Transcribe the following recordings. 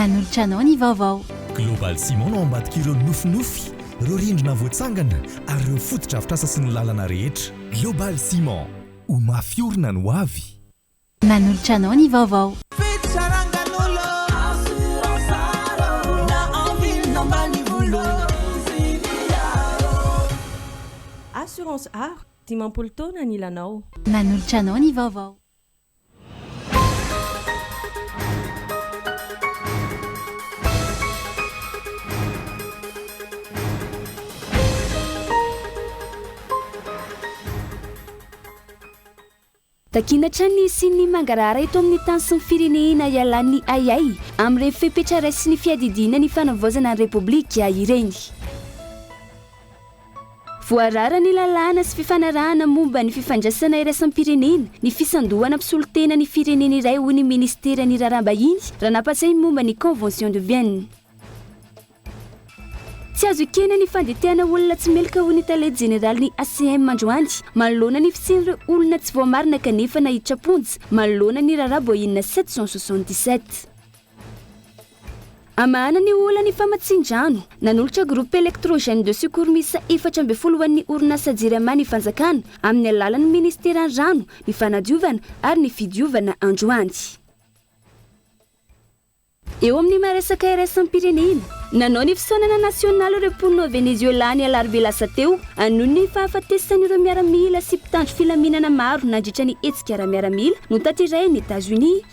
Manolotra anao ny vaovao. Global Ciment no ambadik'ireo nofinofy, ireo rindrina voatsangana ary ireo fotodrafitrasa sy ny lalana rehetra. Global Ciment, ho mafy orina ny hoavy. Manolotra anao ny vaovao. Assurance Aro, dimampolo taona ny lanao. Manolotra anao ny vaovao. Takiana hatrany ny hisian'ny mangarahara eto amin'ny tany sy ny firenehena hialan'ny ahiahy amin'ireny fepetra raisin'ny fiadidiana ny fanavaozana ny Repoblika ireny. Voarara ny lalàna sy fifanarahana momba ny fifandraisana iraisam-pirenena ny fisandohana mpisolo tena ny firenena iray hoy ny Ministeran'ny Raharaham-bahiny raha nampatsiahy ny momba ny Convention de Vienne. Tsy azo ekena ny fandetehana olona tsy meloka hoy ny tale jeneralin'ny ACM androany manoloana ny fisian'ireo olona tsy voamarina kanefa nahiditra am-ponja manoloana ny raharaha boina sept cent soixante-dix-sept. Hamahana ny olan'ny famatsian-drano, nanolotra groupe électrogène de secours miisa efatra ambin'ny folo ho an'ny orinasa Jirama ny fanjakana, amin'ny alalan'ny minisiteran'ny Rano, ny fanadiovana ary ny fidiovana androany. Eo amin'ny maha resaka iraisam-pirenena, nanao ny fisaonana nasionaly ireo mponina ao Venezuela ny alarobia lasa teo, noho ny fahafatesan'ireo miaramila sy mpitandro filaminana maro nandritra ny hetsika ara-miaramila notaterahin'i Etazonia.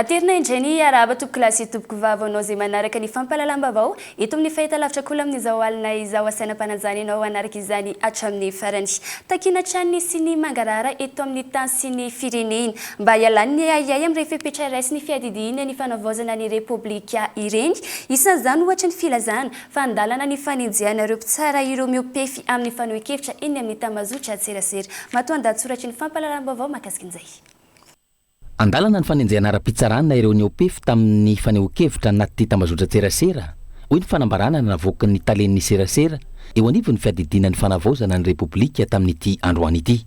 Aterina indray ny hiarahaba tompoko lahy sy tompoko vavy ho anao izay manaraka ny fampahalalam-baovao eto amin'ny fahitalavitra Kolo amin'izao alina izao. Asaina mpananjany ianao hanaraka izany hatramin'ny farany. Takiana hatrany ny siny mangarahara eto amin'ny tany sy ny firenena mba hialany ny ahiahy amin'ireny fepetra iray sy ny fiadidiana ny fanavaozana ny Repoblika ireny. Isan'izany ohatra ny filazana fa an-dalana ny fanenjehana ireo mpitsara ireo mihoa-pefy amin'ny fanohen-kevitra eny amin'ny tambazotra an-tserasera. Matoandahatsoratry ny fampahalalam-baovao mahakasika an'izay. An-dalana ny fanenjehana ara-pitsarana ireo niopefy tamin'ny fanehoan-kevitra anaty tambazotran-tserasera, hoy ny fanambarana navoakan'ny talen'ny serasera eo anivon'ny fiadidiana ny fanavaozana ny Repoblika tamin'ity androany ity.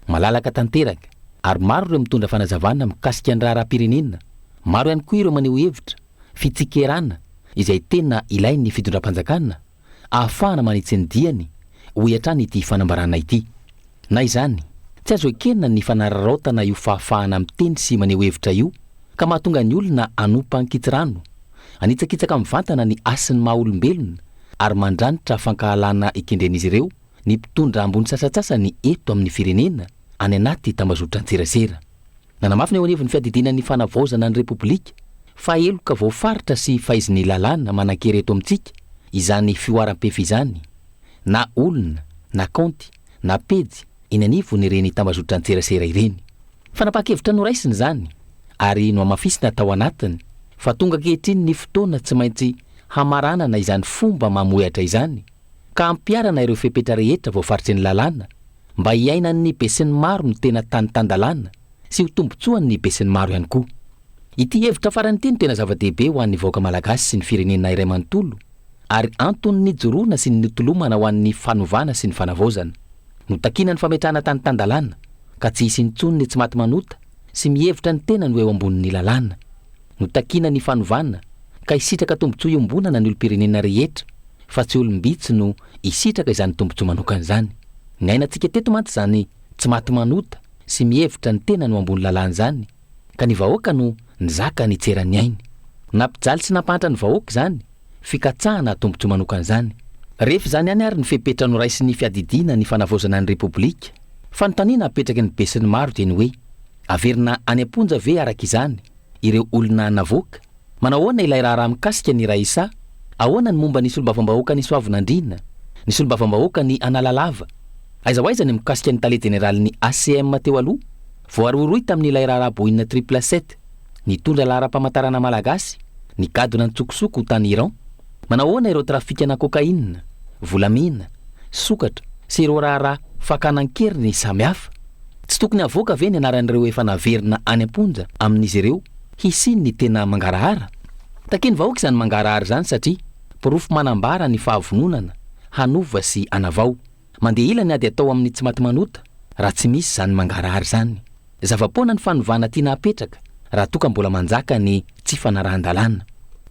Malalaka tanteraka, ary maro ireo mitondra fanazavana mikasika ny raharaham-pirenena, maro ihany koa ireo maneho hevitra, fitsikerana, izay tena ilain'ny fitondram-panjakana, ahafahana manitsy ny diany, hoy hatrany ity fanambarana ity. Na izany, tsy azo ekena ny fanararaotana io fahafahana miteny sy maneho hevitra io ka mahatonga ny olona hanompa ankitsirano, hanitsakitsaka mivantana ny hasin'ny maha olombelona ary mandranitra fankahalana ekendren'izy ireo ny mpitondra ambony sasantsasany eto amin'ny firenena any anaty tambazotran-tserasera. Nanamafy ny eo anivon'ny fiadidiana ny fanavaozana ny Repoblika fa heloka voafaritra sy faizin'ny lalàna manan-kery eto amintsika izany fihoaram-pefy izany na olona na kaonty na pejy eny anivon'ireny tambazotran-tserasera ireny. Fanapahan-kevitra noraisina izany ary nohamafisina tao anatiny fa tonga ankehitriny ny fotoana tsy maintsy hamaranana izany fomba mamohehatra izany Ka ampiharana ireo fepetra rehetra voafaritry ny lalàna mba hiainan'ny besinimaro ny tena tany tan-dalàna sy ho tombontsoan'ny besinimaro ihany koa. Ity hevitra farany ity no tena zava-dehibe ho an'ny vahoaka malagasy sy ny firenena iray manontolo ary antony nijoroana sy nitolomana ho an'ny fanovana sy ny fanavaozana. Notakina ny fametrahana tany tan-dalàna ka tsy hisy intsony ny tsy maty manota sy mihevitra ny tenany ho eo ambonin'ny lalàna. no takiana ny fanovana ka hisitraka tombontsoa iombonana ny olom-pirenena rehetra fa tsy olom-bitsy no hisitraka izany tombontsoa manokana izany. Niainantsika teto mantsy izany tsy maty manota sy mihevitra ny tenany ho ambony lalàna izany ka ny vahoaka no nizaka nitsera ny ainy. Nampijaly sy nampahantra ny vahoaka izany fikatsahana tombontsoa manokana izany. Rehefa izany ihany ary ny fepetra noraisin'ny fiadidiana ny fanavaozana ny Repoblika. Fanontaniana apetraky ny besinimaro dia ny hoe, averina any am-ponja ve araka izany ireo olona navoaka. Manao ahoana ilay raharaha mikasika ny Raissa? Ahoana ny momba ny solombavambahoakan'i Soavinandriana? Ny solombavambahoakan'i Analalava? Aiza ho aiza ny mikasika ny tale jeneralin'ny ACM teo aloha? Voarohirohy tamin'ilay raharaha Boeing triple sept, nitondra laharam-pamantarana malagasy, nigadona an-tsokosoko tany Iran. Manahoana ireo trafikana cocaïne, volamena, sokatra sy ireo raharaha fakana an-keriny samihafa? Tsy tokony havoaka ve ny anaran'ireo efa naverina any am-ponja amin'izy ireo hisian'ny tena mangarahara? Takian'ny vahoaka izany mangarahara izany satria porofo manambara ny fahavononana hanova sy hanavao. Mandeha ela ny ady atao amin'ny tsimatimanota raha tsy misy izany mangarahara izany. Zava-poana ny fanovana tiana apetraka raha toa ka mbola manjaka ny tsy fanarahan-dalàna.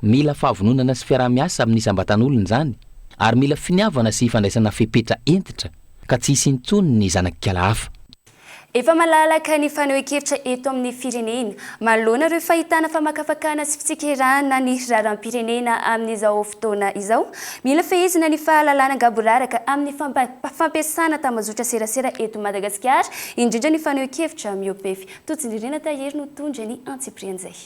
Mila fahavononana sy fiaraha-miasa amin'ny isam-batan'olona izany ary mila finiavana sy fandraisana fepetra hentitra ka tsy hisy intsony ny zanak'ikala hafa. Efa malalaka ny fanehoan-kevitra eto amin'ny firenena manoloana ireo fahitana famakafakana sy fitsikerahana ny raharaham-pirenena amin'izao fotoana izao. Mila fehezina ny fahalalana gaboraraka amin'ny fampiasana tambajotran-tserasera eto Madagasikara, indrindra ny fanehoan-kevitra mihoa-pefy. Totsindririana tahiry no mitondra ny antsipirian'izay.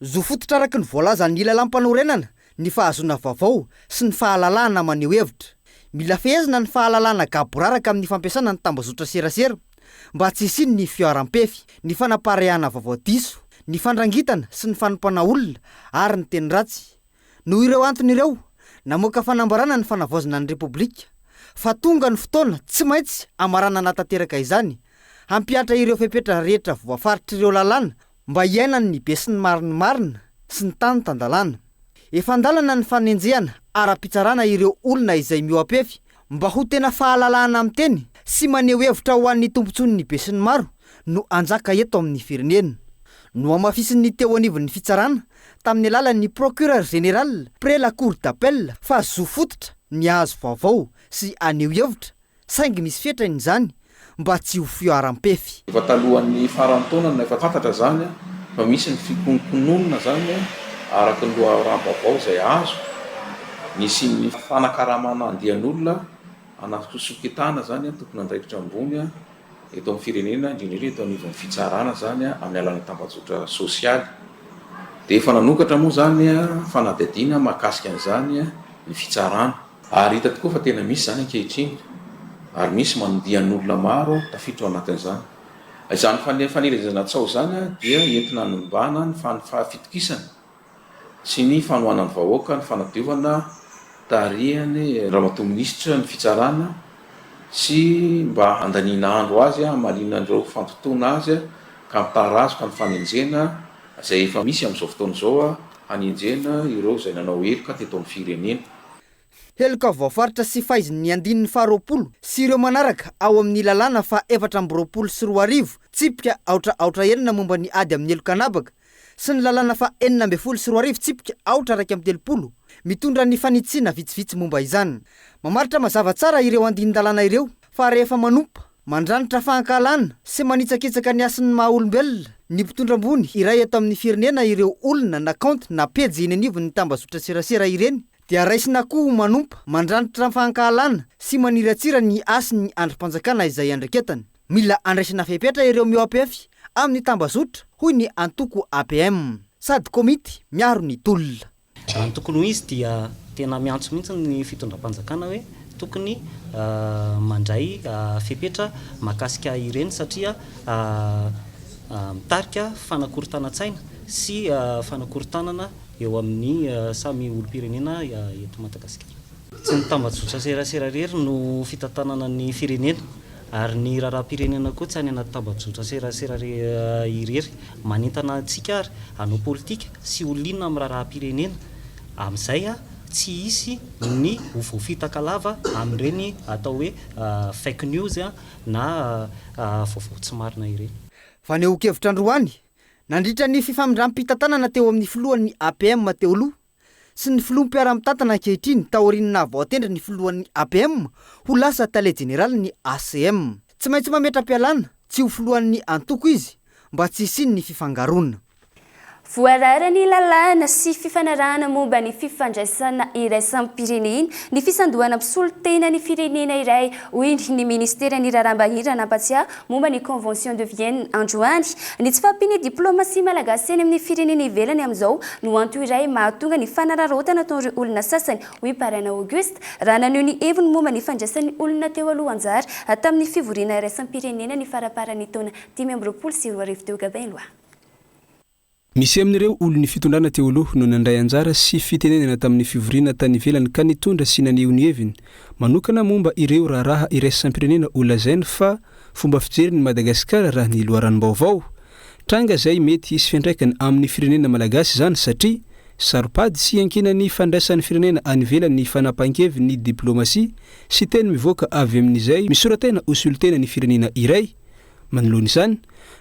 Zo fototra araka ny voalazan'ny lalàmpanorenana ny fahazoana vaovao sy ny fahalalahana maneho hevitra. Mila fehezina ny fahalalahana gaboraraka amin'ny fampiasana ny tambajotran-tserasera. mba tsy hisian'ny fiharam-pefy, ny fanapareahana vaovao diso, ny fandrangitana sy ny fanompana olona ary ny teny ratsy. Noho ireo antony ireo, namoaka fanambarana ny Fanavaozana ny Repoblika fa tonga ny fotoana tsy maintsy hamaranana tanteraka izany, hampihatra ireo fepetra rehetra voafaritr'ireo lalàna mba hiainany ny besinimaro-ny marina sy ny tany tan-dalàna. Efa an-dalana ny fanenjehana ara-pitsarana ireo olona izay mihoa-pefy mba ho tena fahalalahana miteny sy maneho hevitra ho an'ny tombontsoan'ny besinimaro no hanjaka eto amin'ny firenena. Nohamafisin'ny teo anivon'ny fitsarana tamin'ny alalan'ny Procureur Général près la Cour d'Appel fa zo fototra ny hahazo vaovao sy haneho hevitra saingy misy fetrany izany mba tsy ho fiharam-pefy. Efa talohan'ny faran'ny taona no efa fantatra izany fa misy ny fikononkononana izany araka ny loharanom-baovao izay azo, nisian'ny fanakaramana andian'olona ana fisoketana izany tompon'andraikitra ambony eto amin'ny firenena indrindra indrindra eto anivon'ny fitsarana izany amin'ny alalan'ny tambajotra sosialy dia efa nanokatra moa izany fanadihadiana mahakasika an'izany ny fitsarana. Ary hita tokoa fa tena misy izany ankehitriny, ary misy mandian'olona maro tafiditra ao anatin'izany. Izany fanelezana tsaho izany dia entina hanimbana ny fahafitokisana sy ny fanohanan'ny vahoaka ny fanadiovana tarihan'ny Ramatoa Minisitra ny Fitsarana sy mba handaniana andro azy hamaliana an'ireo fandotoana azy ka mitarazoka ny fanenjehana izay efa misy amin'izao fotoana izao Hanenjehana ireo izay nanao heloka teto amin'ny firenena. Heloka voafaritra sy faizin' ny andininy faharoapolo sy ireo manaraka ao amin' ny Lalàna faha efatra amby roapolo sy roa arivo, tsipika aotra aotra enina momba ny ady amin'ny heloka an'habaka, sy ny Lalàna faha enina ambin'ny folo sy roa arivo, tsipika aotra iraika amby telopolo, mitondra ny fanitsiana vitsivitsy momba izany. Mamaritra mazava tsara ireo andinin-dalàna ireo fa rehefa manompa, Mandranitra fahankahalana sy manitsakitsaka ny hasin'ny maha olombelona ny mpitondra ambony iray eto amin'ny firenena ireo olona na kaonty na pejy eny anivon'ny tambazotra serasera ireny dia raisina akoho ho manompa mandranitra fahankahalana sy maniratsira ny hasin'ny andrim-panjakana izay andraiketany. Mila andraisana fepetra ireo mihoapefy amin'ny tambazotra hoy ny antoko APM sady komity miaro ny tolona. Raha ny tokony ho izy dia tena miantso mihitsy ny fitondram-panjakana hoe tokony mandray fepetra mahakasika ireny satria mitarika fanakorontanan-tsaina sy fanakorontanana eo amin'ny samy olom-pirenena eto Madagasikara. Tsy ny tambajotran-tserasera irery no fitantanana ny firenena Ary ny raharaham-pirenena koa tsy any anaty tambajotran-tserasera irery. Manentana antsika ary hanao politika sy ho liana amin'ny raharaham-pirenena. Amin'izay tsy hisy ny ho voafitaka lava amin'ireny atao hoe fake news na vaovao tsy marina ireny. Fanehoan-kevitra androany, nandritra ny fifamindram-pitantanana teo amin'ny filohan'ny APM teo aloha, sy ny filoha mpiara-mitantana ankehitriny taorian'ny naha voatendry ny filohan'ny APM ho lasa tale jeneralin'ny ACM. Tsy maintsy mametra-pialana tsy ho filohan'ny antoko izy mba tsy hisian'ny fifangaroana. Voararan'ny lalàna sy fifanarahana momba ny fifandraisana iraisam-pirenena ny fisandohana mpisolo tena ny firenena iray, hoy ny minisiteran'ny Raharaham-bahiny raha nampatsiahy momba ny Convention de Vienne androany. Ny tsy fahampian'ny diplaomasia malagasy eny amin'ny firenena ivelany amin'izao no antony iray mahatonga ny fanararaotana ataon'ireo olona sasany, hoy Parana Auguste, raha naneho ny heviny momba ny fandraisan'ny olona teo aloha anjara tamin'ny fivoriana iraisam-pirenena ny faramparan'ny taona dimy amby roapolo sy roa arivo teo Gabin Lois. Misy amin'ireo olon'ny fitondrana teo aloha no nandray anjara sy fitenenana tamin'ny fivoriana tany ivelany ka nitondra sy naneho ny heviny manokana momba ireo raharaha iraisam-pirenena ho lazainy fa fomba fijerin'i Madagasikara raha ny loharanom-baovao tranga izay mety hisy fiantraikany amin'ny firenena malagasy izany satria saro-pady sy iankinan'ny fandraisan'ny firenena any ivelany ny fanapahan-kevin'ny diplaomasia sy teny mivoaka avy amin'izay misora-tena ho solontena ny firenena iray Manoloana izany,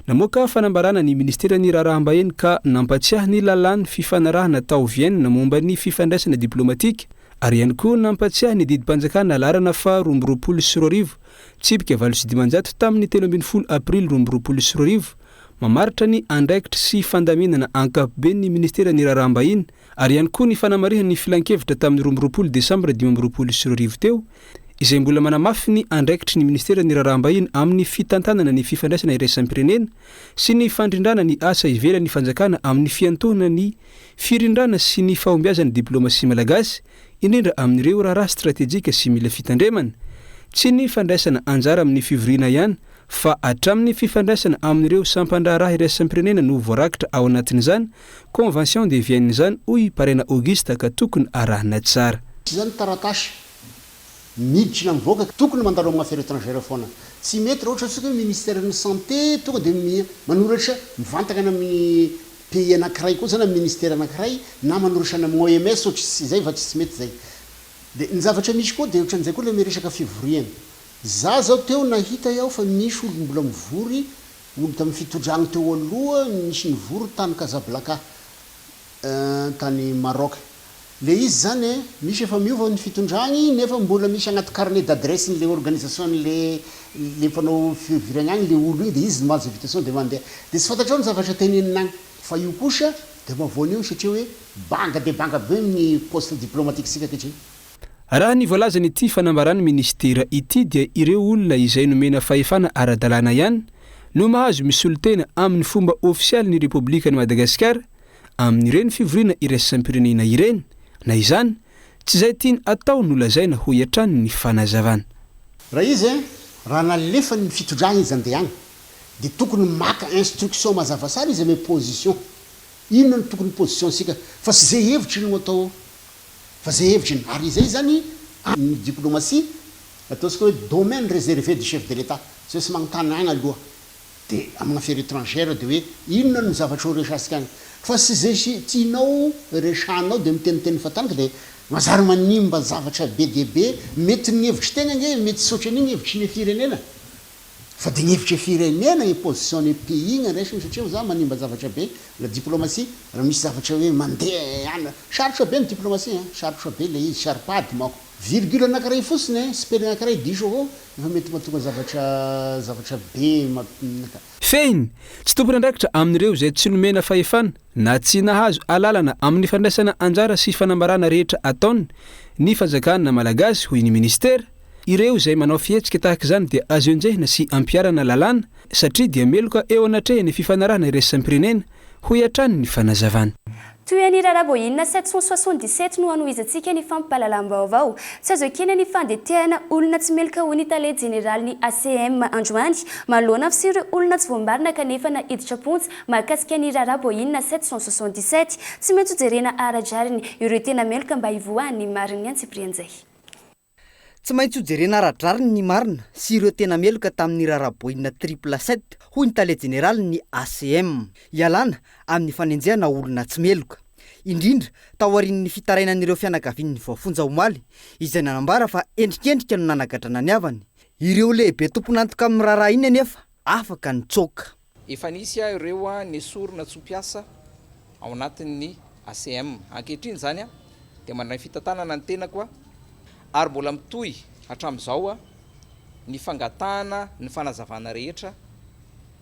namoaka fanambarana ny Ministeran'ny Raharaham-bahiny ka nampatsiahy ny lalàn'ny fifanarahana tao Vienne momba ny fifandraisana diplaomatika ary ihany koa nampatsiahy ny didim-panjakana laharana faha roa amby roapolo sy roa arivo tsipika valo sy dimanjato tamin'ny telo ambin'ny folo aprily roa amby roapolo sy roa arivo mamaritra ny andraikitry sy fandaminana ankapoben'ny Ministeran'ny Raharaham-bahiny ary ihany koa ny fanamarihany ny filankevitra tamin'ny roa amby roapolo desambra dimy amby roapolo sy roa arivo teo, izay mbola manamafy ny andraikitry ny Ministeran'ny Raharaham-bahiny amin'ny fitantanana ny fifandraisana iraisam-pirenena sy ny fandrindrana ny asa ivelan'ny fanjakana amin'ny fiantohana ny firindrana sy ny fahombiazan'ny diplaomasia malagasy, indrindra amin'ireo raharaha stratejika sy mila fitandremana. Tsy ny fandraisana anjara amin'ny fivoriana ihany fa hatramin'ny fifandraisana amin'ireo sampan-draharaha iraisam-pirenena no voarakitra ao anatin'izany Convention de Vienne izany hoy i Parena Auguste ka tokony arahina tsara. Tsy izany ny taratasy miditra na mivoaka ka tokony mandalo amin'ny Affaires Etrangères foana. Tsy mety raha ohatra antsika hoe Ministère ny Santé tonga dia manoratra mivantana any amin'ny pays anankiray kosa na Ministère anankiray na manoratra any amin'ny OMS ohatra izy izay fa tsy mety izay. Dia ny zavatra misy koa dia ohatran'izay koa ilay resaka fivoriana. Izaho izao teo nahita aho fa misy olona mbola mivory Omby tamin'ny fitodrany teo aloha nisy nivory tany Casablanca tany Maroc. Le izy zany e, misy efa miova ny fitondrany nefa mbola misy agnaty carnet d'adresse n'le organisation n'le le mpanao fiviragna agny le olo igny de izy mamaly ze invitation de mandeha. De tsy fantatrao ny zavatra tenenina agny. Fa io kosa de mavoana eo satria hoe banga dia banga be ny poste diplomatique-tsika ankehitriny. Raha ny voalazan'ity fanambaran'ny minisitera ity dia ireo olona izay nomena fahefana ara-dalàna ihany no mahazo misolotena amin'ny fomba ofisialin'ny Repoblikan'i Madagasikara amin'ireny fivoriana iraisam-pirenena ireny na izany tsy izay tiany atao no lazaina, hoy hatrany ny fanazavana. Raha izy, raha nalefany ny fitondrana izy andehana, dia tokony maka instruction mazava tsara izy ame position, inona no tokony position-tsika, fa tsy ze hevitry no atao ao. Fa zay hevitry ny Ary izay zany amin ny diplomatie ataontsika hoe domaine reservé du chef de l'Etat tsy maintsy manontany agny aloha de amina affaire etrangère de hoe inona no zavatra ho resatsika agny fa sy zay sy tianao resahanao de miteniteny fatangy de mazary manimba zavatra be dia be mety ny hevitry tegna nge mety tsy otran'igny hevitry ny firenena Fa de ny hevitra firenena imposition ny pays ny andraisany satria hoza manimba zavatra be la diplomatie raha misy zavatra hoe mandeha any sarotra be ny diplomatie an sarotra be ilay izy tsy ary pady manko virgule anakiray fotsiny an spelling akiray diso avao efa mety mahatonga zavatra zavatra be mamp Fehiny, tsy tompon'andraikitra amin'ireo izay tsy nomena fahefana na tsy nahazo alalana amin'ny fandraisana anjara sy fanambarana rehetra ataony ny fanjakana malagasy hoy ny minisitera. Ireo izay manao fihetsika tahaka izany dia azo enjehina sy ampiharana lalàna satria dia meloka eo anatrehan'ny fifanarahana iraisam-pirenena, hoy hatrany ny fanazavany. Toy an'i Raraboina 777 no hanohizantsika ny fampahalalam-baovao. Tsy azo ekena ny fandetehana olona tsy meloka hoy ny tale jeneralin'ny ACM androany manoloana ny fisian'ireo olona tsy voambarina kanefa naiditra am-ponja mahakasika an'i Raraboina 777. Tsy maintsy hojerena ara-drariny ireo tena meloka mba hivoahan'ny marin'ny antsipirian'izay. Tsy maintsy ho jerena ara-drariny ny marina sy ireo tena meloka tamin'ny raharaha Boeing triple sept, hoy ny tale jeneralin'ny ACM. Ialana amin'ny fanenjehana olona tsy meloka. Indrindra taorian'ny fitarainan'ireo fianakavian'ny voafonja omaly, izay nanambara fa endrikendrika no nanagadrana ny havany. Ireo lehibe tompon'antoka amin'ny raharaha iny anefa afaka nitsoaka. Efa nisy aho ireo nesorina tsy ho mpiasa ao anatin'ny ACM. Ankehitriny izany dia mandray fitantanana ny tenako ary mbola mitohy hatramin'izao ny fangatahana ny fanazavana rehetra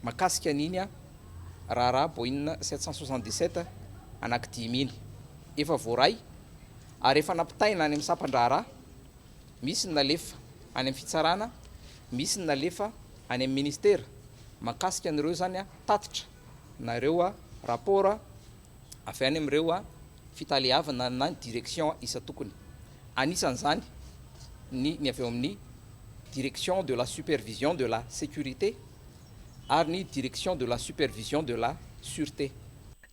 makasika an'iny raharaha Boeing sept cent soixante dix sept anankidimy iny. Efa voaray ary efa nampitaina any amin'ny sampan-draharaha, misy ny nalefa any amin'ny fitsarana, misy ny nalefa. any amin'ny ministera mahakasika an'ireo izany tatitra na ireo rapport avy any amin'ireo fitaleavana na ny direction isan-tokony. Anisan'izany ny ny avy ao amin'ny direction de la supervision de la sécurité ary ny direction de la supervision de la sûreté.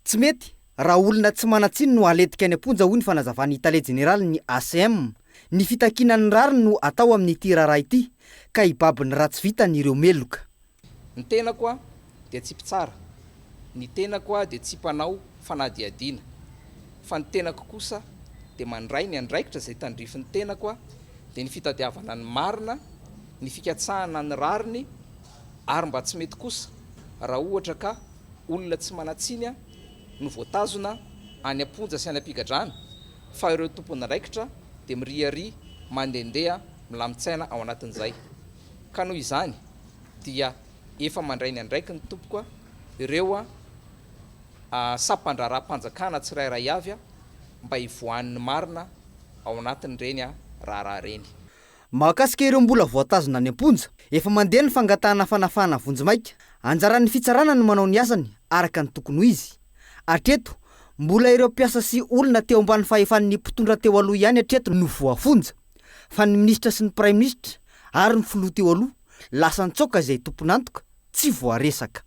Tsy mety raha olona tsy manan-tsiny no haletika any am-ponja, hoy ny fanazavan'ny tale jeneralin'ny ACM. Ny fitakiana ny rariny no atao amin'ity raharaha ity ka hibaby ny ratsy vitany ireo meloka. Ny tenako aho dia tsy mpitsara, ny tenako aho dia tsy mpanao fanadihadiana, fa ny tenako kosa dia mandray ny andraikitra izay tandrifin'ny tenako aho, dia ny fitadiavana ny marina, ny fikatsahana ny rariny, ary mba tsy mety kosa raha ohatra ka olona tsy manan-tsiny aho no voatazona any am-ponja sy any am-pigadrana? fa ireo tompon'andraikitra dia miriaria mandehandeha milamin-tsaina ao anatin'izay ka noho izany dia efa mandray ny andraikiny tompoko ireo sampandraharaham-panjakana tsirairay avy mba hivoahan'ny marina ao anatin'ireny raharaha ireny. Mahakasika ireo mbola voatazona any am-ponja, efa mandeha ny fangatahana fanafahana vonjimaika. Anjaran'ny fitsarana ny manao ny asany araka ny tokony ho izy. Hatreto, mbola ireo mpiasa sy olona teo ambany fahefan'ny mpitondra teo aloha ihany hatreto no voafonja, fa ny minisitra sy ny praiminisitra ary ny filoha teo aloha lasa an-tsaoka izay tompon'antoka tsy voaresaka.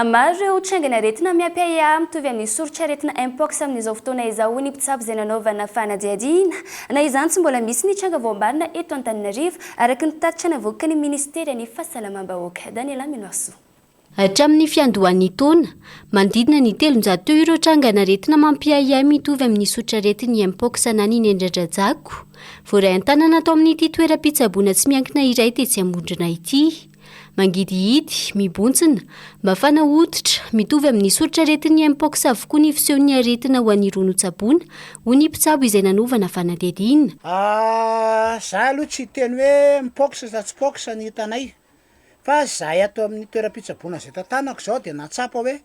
Maro ireo trangany aretina miampy-ahiahy mitovy amin'ny soritr'aretina Mpox amin'izao fotoana izao hoy ny mpitsabo izay nanaovana fanadihadiana. Na izany tsy mbola misy ny tranga voamarina eto Antananarivo, araka ny tatitra navoakan'ny minisiteran'ny Fahasalamam-bahoaka. Daniela Minoarsoa. Hatramin'ny fiandohan'ny taona, manodidina ny telonjato teo ireo trangan'aretina mampiahiahy mitovy amin'ny sotraretin'ny Mpox na ny nendradrajako, voaray an-tanana tao amin'ity toeram-pitsaboana tsy miankina iray tetsy Ambondrona ity. Mangidihidy, mibontsina, mafana hoditra, mitovy amin'ny sotraretin'ny Mpox avokoa ny fisehon'ny aretina ho an'ireo notsaboina, hoy ny mpitsabo izay nanaovana fanadihadiana. Izahay aloha tsy hiteny hoe Mpox sa tsy Pox ny hitanay. Fa izahay ato amin'ny toeram-pitsaboana izay tantanako izao dia nahatsapa hoe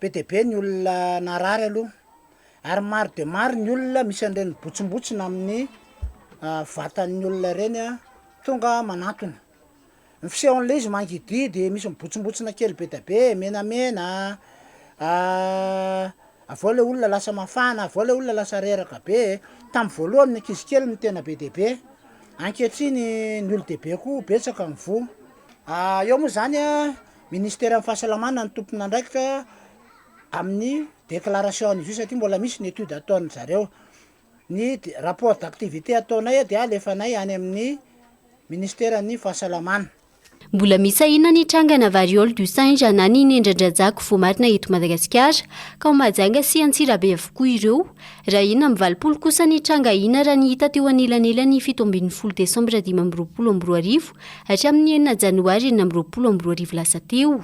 be dia be ny olona narary aloha, ary maro dia maro ny olona misy an'ireny botsombotsona amin'ny vatan'ny olona ireny tonga manantona. Ny fisehon'ilay izy mangidihidy, misy mibotsombotsona kely be dia be, menamena a. Avy ao ilay olona lasa mafana, avy ao ilay olona lasa reraka be e! Tamin'ny voalohany ny ankizy kely no tena be dia be, ankehitriny ny olon-dehibe koa betsaka ny voa. Eo moa izany, Ministeran'ny fahasalamana no tompon'andraikitra amin'ny déclaration an'izy io satria mbola misy ny étude ataon'ny zareo. Ny rapport d'activité ataonay dia alefanay any amin'ny Ministeran'ny fahasalamana. Mbola misy sahina ny trangana variole du singe na ny nendran-dRajako voamarina eto Madagasikara, ka ao Mahajanga sy Antsirabe avokoa ireo. Raha enina amby valopolo kosa ny tranga hina raha ny hita teo anelanelan'ny fito ambin'ny folo desambra dimy amby roapolo amby roa arivo hatramin'ny enina janoary enina amby roapolo amby roa arivo lasa teo.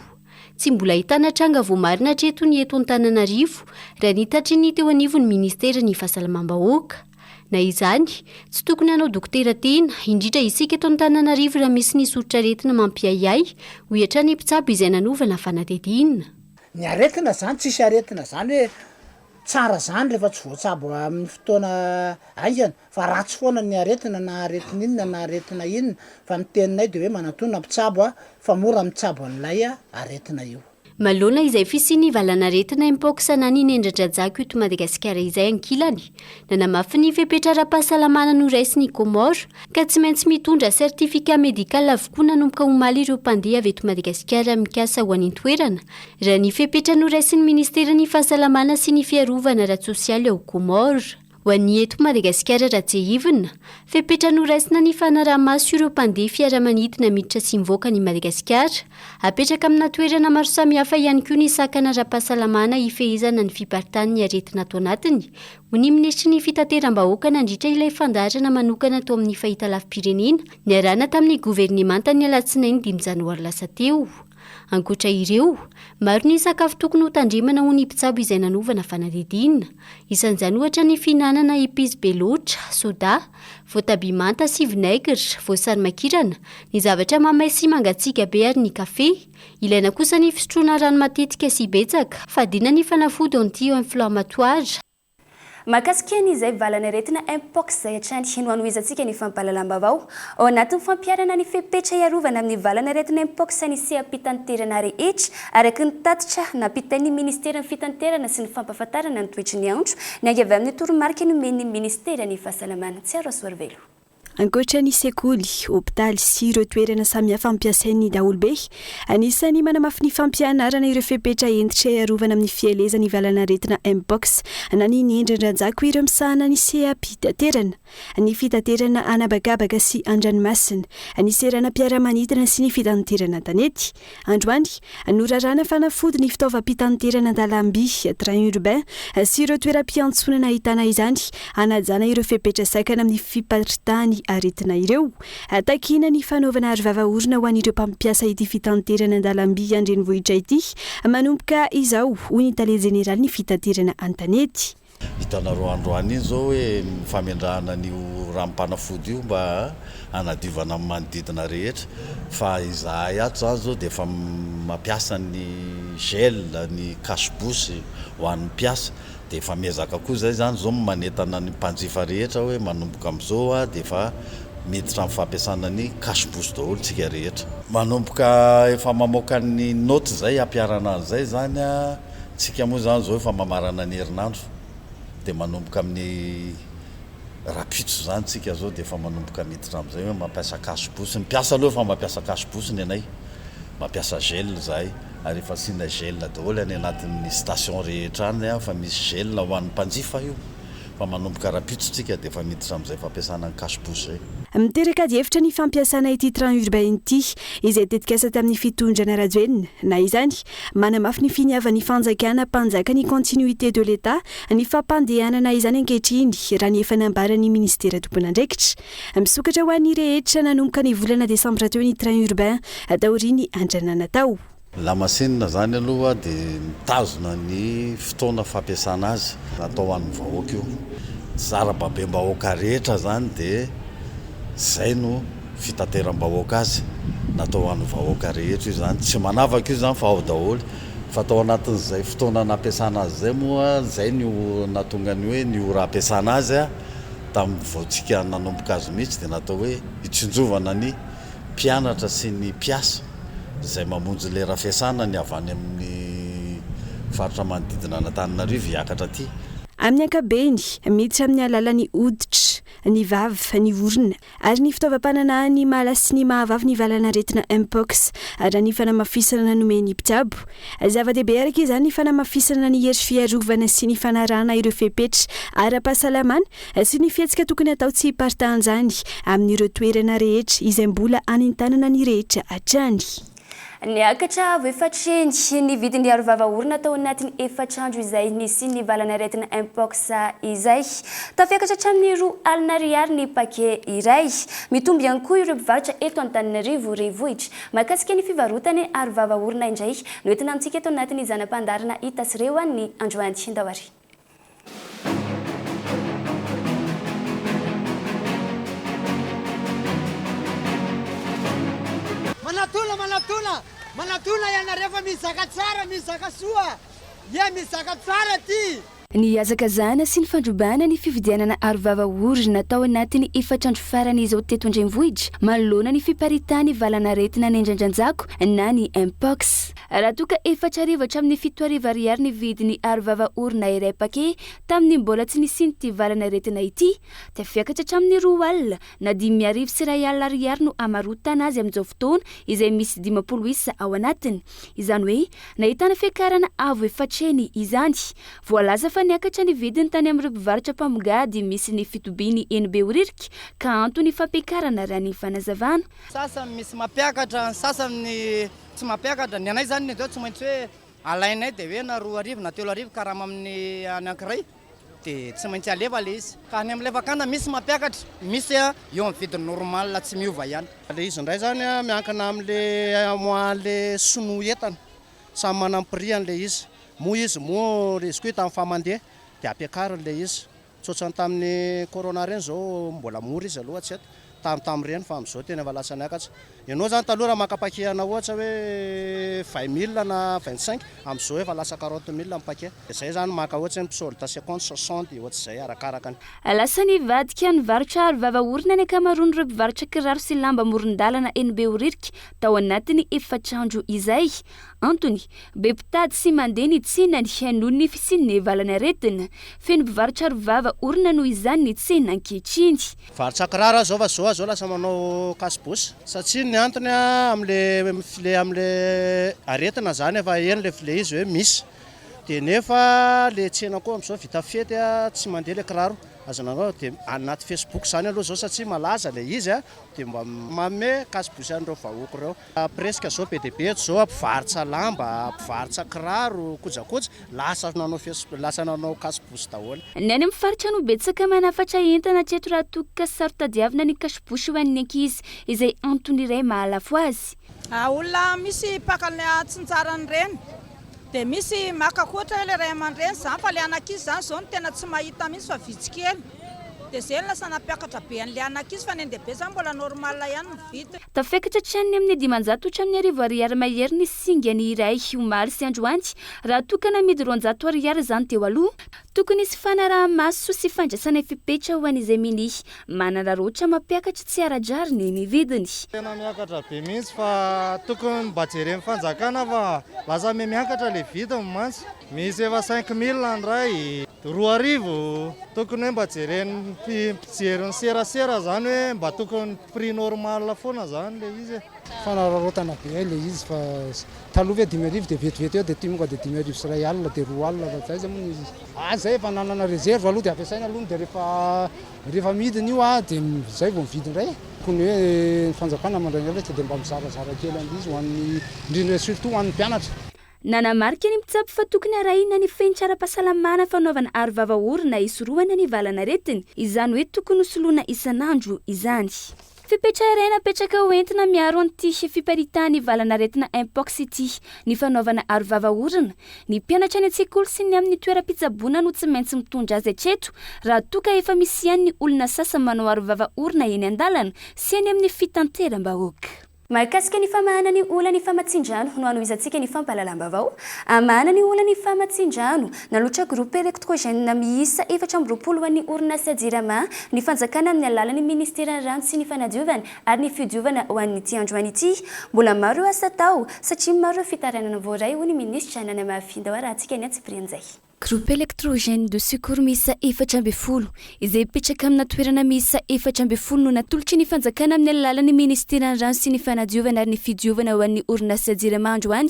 Tsy mbola ahitana tranga voamarina hatreto ny eto Antananarivo, raha ny tatry ny teo anivon'ny minisiteran'ny Fahasalamam-bahoaka. Na izany, tsy tokony hanao dokotera tena, indrindra isika eto Antananarivo raha misy ny soritr'aretina mampiahiahy, hoy hatrany i mpitsabo izay nanaovana fanadihadiana. Ny aretina izany tsisy aretina izany hoe tsara izany rehefa tsy voatsabo amin'ny fotoana haingana fa ratsy foana ny aretina na aretina inona na aretina inona fa ny teninay dia hoe manatòna mpitsabo fa mora mitsabo an'ilay aretina io. Maloana izay fisian'ny valanaretina Mpox anan'ny nendradrajako eto Madagasikara izay ankilany, nanamafy ny fepetra ara-pahasalamana noraisin'i Comores ka tsy maintsy mitondra certificat médical avokoa nanomboka omaly ireo mpandeha avy eto Madagasikara mikasa ho any an-toerana, raha ny fepetra noraisin'ny Ministeran'ny Fahasalamana sy ny Fiarovana ara-tsosialy ao Comores. Ho an'ny eto Madagasikara raha tsiahivina, fepetra noraisina ny fanaraha-maso ireo mpandeha fiaramanidina miditra sy mivoaka an'i Madagasikara. Apetraka amina toerana maro samihafa ihany koa ny sakana ara-pahasalamana hifehezana ny fiparitahan'ny aretina ato anatiny, hoy ny minisitry ny Fitateram-bahoaka nandritra ilay fandaharana manokana tao amin'ny fahitalavi-pirenena niarahana tamin'ny governemantan'ny alatsinainy dimy janoary lasa teo. Ankoatra ireo, maro ny sakafo tokony ho tandremana ho ny mpitsabo izay nanovana fanadihadiana. Isan'izany ohatra ny fihinanana episy be loatra, soda, voatabia manta sy vinaigre, voasary makirana, ny zavatra mamay sy mangatsiaka be ary ny kafe. Ilaina kosa ny fisotroana rano matetika sy betsaka, fadiana ny fanafody anti-inflammatoire. Mahakasika ny izay valan'aretina Mpox izay hatrany no hanohizantsika ny fampahalalam-baovao ao anatin'ny fampiharana ny fepetra hiarovana amin'ny valan'aretina Mpox ny seha-pitanterana rehetra araka ny tatitra nampitain'ny Ministeran'ny Fitanterana sy ny Fampahafantarana ny Toetry ny Andro niainga avy amin'ny toromarika nomen'ny Ministeran'ny Fahasalamana. Tsiaroasoarivelo. Ankoatra ny sekoly, hopitaly sy ireo toerana samihafa ampiasain'ny daholobe, anisan'ny manamafy ny fampianarana ireo fepetra hentitra hiarovana amin'ny fielezan'ny valanaretina Mpox na ny niendrin-dRajako ireo misahana ny seha-pitaterana, ny fitaterana an'habakabaka sy an-dranomasina, ny seranam-piaramanidina sy ny fitaterana an-tanety. Androany, noraràna fanafody ny fitaovam-pitanterana an-dalamby, train urbain, sy ireo toeram-piantsonana ahitana izany, hanajana ireo fepetra sakana amin'ny fiparitahan'ny aretina ireo. Takiana ny fanaovana arovava orona ho an'ireo mpampiasa ity fitanterana an-dalamby an-drenivohitra ity manomboka izao, hoy ny tale jeneralin'ny fitaterana an-tanety. Hitanareo androany iny izao hoe ny famendrahana an'io ranom-panafody io mba hanadiovana ny manodidina rehetra fa izahay ato izany izao dia efa mampiasa ny gel, ny cache bouche ho an'ny mpiasa dia efa miezaka koa izay izany izao manentana ny mpanjifa rehetra hoe manomboka amin'izao ho'a dia efa miditra amin'ny fampiasana ny cache bouche daholo isika rehetra. Manomboka efa mamoaka ny notes izay hampiharana an'izay izany. Tsika moa izany izao efa mamarana ny herinandro dia manomboka amin'ny rahampitso izany tsika izao dia efa manomboka miditra amin'izay hoe mampiasa cache bouche, ny mpiasa aloha efa mampiasa cache bouche ny anay, mampiasa gel izahay ary efa asiana gel daholo any anatin'ny station rehetra any fa misy gel ho an'ny mpanjifa io. fa manomboka rahampitso tsika dia efa miditra amin'izay fampiasana ny cash pousse zay. Miteraka adihevitra ny fampiasana ity train urbain ity, izay tetikasa tamin'ny fitondrana Rajoelina. Na izany, manamafy ny finiavan'ny fanjakana mpanjaka ny continuité de l'Etat ny fampandehanana izany ankehitriny, raha ny efa nambaran'ny minisitera tompon'andraikitra. Misokatra ho an'ny rehetra nanomboka ny volana desambra teo ny train urbain, taorian'ny andranana tao. Lamasinina izany aloha dia mitazona ny fotoana fampiasana azy. Natao ho an'ny vahoaka io. Tsy zara-babem-bahoaka rehetra izany dia izay no fitateram-bahoaka azy. Natao ho an'ny vahoaka rehetra io izany. Tsy manavaka io izany fa ao daholo. Fa tao anatin'izay fotoana nampiasana azy izay moa izay no nahatonga ny hoe ny ora ampiasana azy tamin'ny vao tsika nanomboka azy mihitsy dia natao hoe hitsinjovana ny mpianatra sy ny mpiasa izay mamonjy lera fiasana ny avy any amin'ny faritra manodidina an'Antananarivo hiakatra aty. Amin'ny ankabeny, miditra amin'ny alalan'ny hoditra, ny vava, ny orona ary ny fitaovam-pananahan'ny mahala sy ny mahavavy ny valan'aretina Mpox, raha ny fanamafisana nomen'ny mpitsabo. Zava-dehibe araka izany ny fanamafisana ny hery fiarovana sy ny fanarahana ireo fepetra ara-pahasalamana sy ny fihetsika tokony hatao tsy hiparitahan'izany amin'ireo toerana rehetra izay mbola anentanana ny rehetra hatrany. Niakatra avo efatr'heny ny vidin'ny arovava orona tao anatin'ny efatr'andro izay nisian'ny valan'aretina Mpox izay. Tafiakatra hatramin'ny roa alina ariary ny paquet iray. Mitombo ihany koa ireo mpivarotra eto Antananarivo Renivohitra. Mahakasika ny fivarotana arovava orona indray no entina amintsika eto anatin'ny zana-pandaharana Hitasy Rehoany androany. Andao ary. Manatona manatona manatona ianareo fa mizaka tsara mizaka soa ye mizaka tsara ty. Ny hazakazahana sy ny fandrobana ny fifidianana arovava orina tao anatin'ny efatr'andro farany izao teto an-drenivohitra manoloana ny fiparitahan'ny valan'aretina nendrandranjako na ny Mpox. Raha toa ka efatra arivo hatramin'ny fito arivo ariary ny vidin'ny arovava orona iray paquet tamin'ny mbola tsy nisian'ity valan'aretina ity, dia fiakatra hatramin'ny roa alina na dimy arivo sy iray alina ariary no hamarotana azy amin'izao fotoana izay misy dimampolo isa ao anatiny. Izany hoe nahitana fiakarana avo efatrehiny izany. Voalaza fa niakatra ny vidiny tany amin'ireo mpivarotra mpamongady misy ny fitobiany eny Behoririka ka antony fampiakarana raha ny fanazavana. Sasany misy mampiakatra, ny sasany ny Tsy mampiakatra. Ny anay izany dia tsy maintsy hoe alainay dia hoe na roa arivo na telo arivo karama amin'ny anankiray dia tsy maintsy alefa ilay izy. Fa any amin'ilay fakana misy mampiakatra, misy eo amin'ny vidiny normal tsy miova ihany. Ilay izy indray izany miankina amin'ilay mois-n'ilay sinoa entana. Samy manana ny prix-any ilay izy. Moa izy moa izy koa hita amin'ny faha-mandeha dia ampiakariny ilay izy. Tsotsany tamin'ny corona ireny izao mbola mora izy aloha tsy eto tam tam ireny fa amin'izao tena efa lasa niakatra. Ianao izany taloha raha maka paquet anao ohatra hoe vingt mille na vingt cinq amin'izao efa lasa quarante mille ny paquet. Dia izay izany maka ohatra hoe misolda cinquante, soixante dia ohatr'izay arakaraka ny. Lasa nivadika nivarotra aro vava orona ny ankamaroan'ireo mpivarotra kiraro sy lamba amoron-dalana eny Behoririka tao anatin'ny efatr'andro izay. Antony, be mpitady sy mandeha ny tsenany noho ny fisian'ny valan'aretina. Feno mpivarotra arovava orona noho izany ny tsena ankehitriny. Mpivarotra kiraro aza izao fa izao aza lasa manao cache-bouche satria ny antony amin'ilay file amin'ilay aretina izany efa heno ilay file izy hoe misy dia nefa ilay tsena koa amin'izao vita fety tsy mandeha ilay kiraro aza nanao dia anaty facebook izany aloha izao satria malaza ilay izy dia mba manome cache-bouche an'ireo vahoaka ireo. Presque zao be dia be eto zao mpivarotra lamba, mpivarotra kiraro, kojakoja, lasa nanao facebook, lasa nanao cache-bouche daholo. Ny any amin'ny faritra no betsaka manafatra entana hatreto raha toa ka saro-tadiavina ny cache-bouche ho an'ny ankizy, izay antony iray mahalafo azy. Olona misy mpaka ny hatsinjarany ireny, dia misy maka ohatra hoe ilay ray aman-dreny izany, fa ilay an'ankizy izany izao no tena tsy mahita mihitsy fa vitsy kely. Dia zay ny lasa nampiakatra be an'ilay an'ankizy fa ny an-dehibe zany mbola normal ihany ny vidiny. Tafakatra hatrany amin'ny dimanjato hatramin'ny arivo ariary mahery ny singa ny iray omaly sy androany raha toa ka namidy roanjato ariary izany teo aloha. Tokony hisy fanaraha-maso sy fandraisana fepetra ho an'izay minia manararaotra mampiakatra tsy ara-drariny ny vidiny. Tena miakatra be mihitsy fa tokony mba jeren'ny fanjakana fa lasa mihamiakatra ilay vidiny mantsy. Misy efa cinq mille ny iray. Roa arivo? Tokony hoe mba jeren'ny mpijery ny serasera zany hoe mba tokony prix normal foana zany le izy e. Fanararaotana be hay le izy fa taloha ve dimy arivo de vetivety eo de tonga de dimy arivo sy iray alina de roa alina fa zay zany moa ny izy a zay efa nanana reserve aloha de ampiasaina aloha de rehefa rehefa amidiny io a de zay vao mividy indray e. Tokony hoe ny fanjakana mandray ny hevitra de mba mizarazara kely an'le izy ho an'ny indrindra surtout ho an'ny mpianatra. Nanamarika ny mpitsabo fa tokony arahina ny fenitra ara-pahasalamana fanaovana arovava orona hisorohana ny valan'aretiny, izany hoe tokony ho soloina isan'andro izany. Fepetra iray napetraka ho entina miaro an'ity fiparitahan'ny valan'aretina Mpox ity ny fanaovana arovava orona. Ny mpianatra any an-tsekoly sy ny amin'ny toeram-pitsaboana no tsy maintsy mitondra azy hatreto raha toa ka efa misy ihany ny olona sasa manao arovava orona eny an-dalana sy eny amin'ny fitanteram-bahoaka. Mahakasika ny famahana ny olan'ny famatsian-drano no hanohizantsika ny fampahalalam-baovao hamahana ny olan'ny famatsian-drano nalotra groupe electrogène miisa efatra amby roapolo ho an'ny orinasa Jirama ny fanjakana amin'ny alalan'ny ministeran'ny rano sy ny fanadiovana ary ny fidiovana ho an'ity androany ity. Mbola maro ireo asa atao satria maro ireo fitarainana voaray hoy ny minisitra nanamafy ny dahorahantsika ny antsipirian'izay. Groupe électrogène de secours miisa efatra ambin'ny folo izay mipetraka amina toerana miisa efatra ambin'ny folo no natolotry ny fanjakana amin'ny alalan'ny ministeran'ny rano sy ny fanadiovana ary ny fidiovana ho an'ny orinasa Jirama androany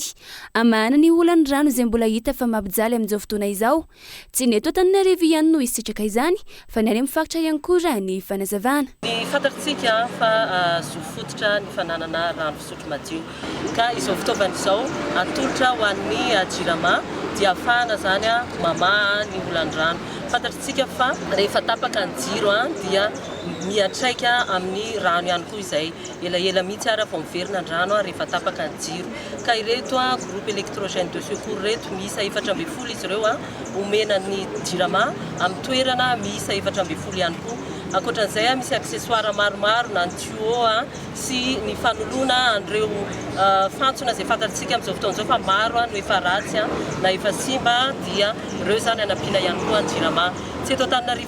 hamahana ny olan'ny rano izay mbola hita fa mampijaly amin'izao fotoana izao. Tsy ny eto Antananarivo ihany no hisitraka izany Fa ny any amin'ny faritra ihany koa raha ny fanazavana. Ny fantatrtsika fa zo fototra ny fananana rano fisotro madio. Ka izao fitaovana izao atolotra ho an'ny Jirama dia ahafahana izany mamaha ny olan'ny rano. Fantatrtsika fa rehefa tapaka ny jiro dia miantraika amin'ny rano ihany koa izay. Elaela mihitsy ary vao miverina ny rano rehefa tapaka ny jiro. Ka ireto groupe electrogène de secours ireto, miisa efatra ambin'ny folo izy ireo. Omena ny Jirama amin'ny toerana miisa efatra ambin'ny folo ihany koa. Ankoatra an'izay, misy accessoires maromaro na ny tuyaux sy ny fanoloana an'ireo fantsona izay fantantsika amin'izao fotoana izao fa maro no efa ratsy na efa simba dia ireo izany hanampiana ihany koa ny Jirama. Tsy eto Antananarivo.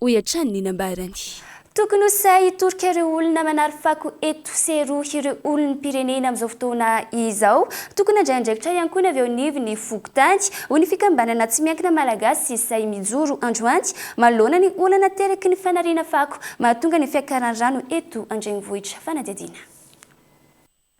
hoy hatrany ny nambarany. Tokony ho sahy hitorika ireo olona manary fako eto sy eroa ireo olom-pirenena amin'izao fotoana izao. Tokony handray andraikitra ihany koa ny avy eo anivon'ny fokontany, hoy ny fikambanana tsy miankina malagasy Sahy mijoro androany manoloana ny olana ateraky ny fanariana fako mahatonga ny fiakaran'ny rano eto an-drenivohitra fanadihadiana.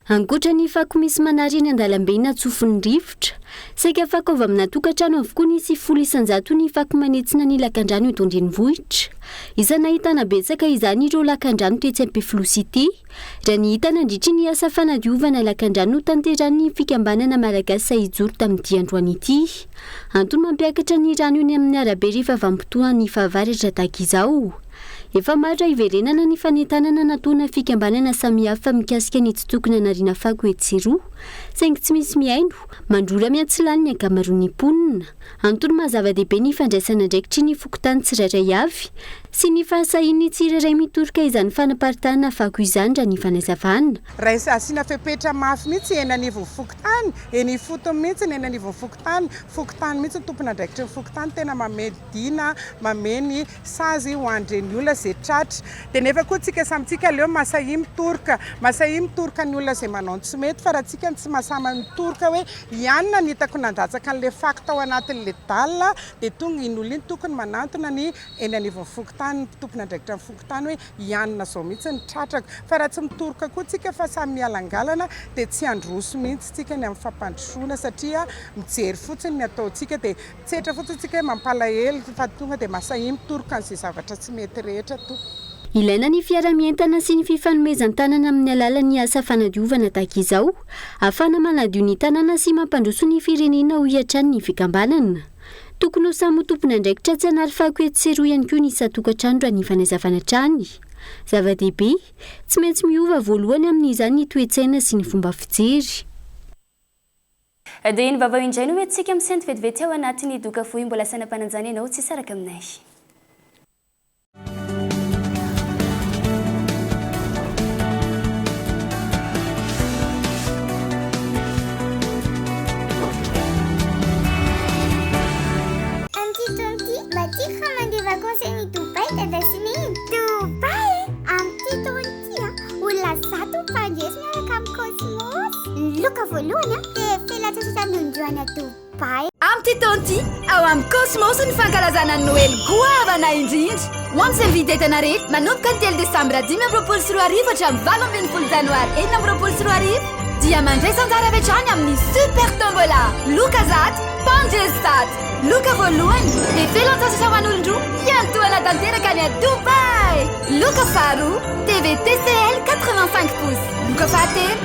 Ankoatra ny fako misy manary eny an-dalambe na tsofin'ny rivotra, saika fako avy amina tokantrano avokoa ny sy folo isan-jato ny fako manitsina ny lakandrano eto an-drenivohitra. Isany nahitana betsaka izany ireo lakandrano tetsy Ampefiloha Cité, raha ny hita nandritry ny asa fanadiovana lakandrano notanterahin'ny fikambanana Malagasy Sahijoro tamin'ity androany ity. Antony mampiakatra ny rano eny amin'ny arabe rehefa vanim-potoan'ny fahavaratra tahaka izao. Efa maro iverenana ny fanentanana nataona fikambanana samihafa mikasika ny tsy tokony hanariana fako etsy sy roa, saingy tsy misy mihaino, mandrora miantsilany ny ankamaroan'ny mponina. Antony maha zava-dehibe ny fandraisana andraikitry ny fokontany tsirairay avy sy ny fahasahian'ny tsirairay mitoroka izany fanaparitahana fako izany raha ny fanazavana. Raisina asiana fepetra mafy mihitsy eny anivon'ny fokontany, eny ifotony mihitsy ny eny anivon'ny fokontany, fokontany mihitsy ny tompon'andraikitry ny fokontany tena mameno dina, mameno ny. Sazy ho an-dre ny olona ze tratra. Dia nefa koa tsika samy tsika aleo masahia mitoroka. Masahia mitoroka ny olona ze manao ny tsy mety fa raha tsika no tsy masama mitoroka hoe ianona no hitako nandatsaka an'le fako tao anatin'le dalle dia tonga iny olona iny tokony manantona ny eny anivon'ny fokontany, ny tompon'andraikitra ny fokontany hoe ianona zao mihitsy ny tratrako. Fa raha tsy mitoroka koa tsika fa samy mialangalana dia tsy handroso mihitsy tsika ny amin'ny fampandrosoana satria mijery fotsiny ny ataontsika dia Tsetra fotsiny tsika hoe mampalahelo fa tonga dia masahin toroka an'izay zavatra tsy mety rehetra toa. Ilaina ny fiara-mientana sy ny fifanomezan-tanana amin'ny alalan'ny asa fanadiovana tahaka izao, afana manadio ny tanàna sy mampandroso ny firenena hoy hatrany ny fikambanana. Tokony ho samy ho tompon'andraikitra tsy hanary fako etsy sy eroa ihany koa ny isan-tokantrano raha ny fanazavana hatrany. Zava-dehibe, tsy maintsy miova voalohany amin'izany ny toe-tsaina sy ny fomba fijery. Dia iny vavao indray no hoe tsika misento vetivety ao anatin'ny doka fohy mbola saina mpananjana ianao tsy hisaraka aminay. Tia, olona zato mifangezo miaraka amin'ny Cosmos. Ny loka voalohany an, dia filatsy sisa nondro any a Dubai. Amin'ity taona ity, ao amin'ny Cosmos ny fankalazana ny Noely goavana indrindra. Ho an'ny fiavian-dentana rehetra, manomboka ny telo desambra dimy amby roapolo sy roa arivo hatramin'ny valo ambin'ny folo janoary enina amby roapolo sy roa arivo, dia mandraisa anjara avy hatrany amin'ny Super Tombola, loka zato, tanjona zato. Loka voalohany, dia filan-tsasatra ho an'olon-droa hiantohana tanteraka any à Dubaï! Loka faharoa, TV TCL 85 pouces. Loka fahatelo,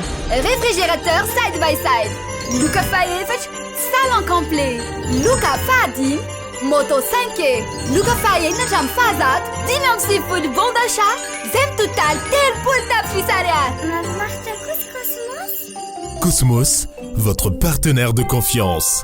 réfrigérateur side by side. Loka fahefatra, salon complet. Loka fahadimy, moto 5 e. Loka fahaenina hatramin'ny fahazato, dimy amby sivifolo bon d'achat, izay mitotaly telopolo tapitrisa ariary. Mahafinaritra koa ry Cosmos! Cosmos, votre partenaire de confiance.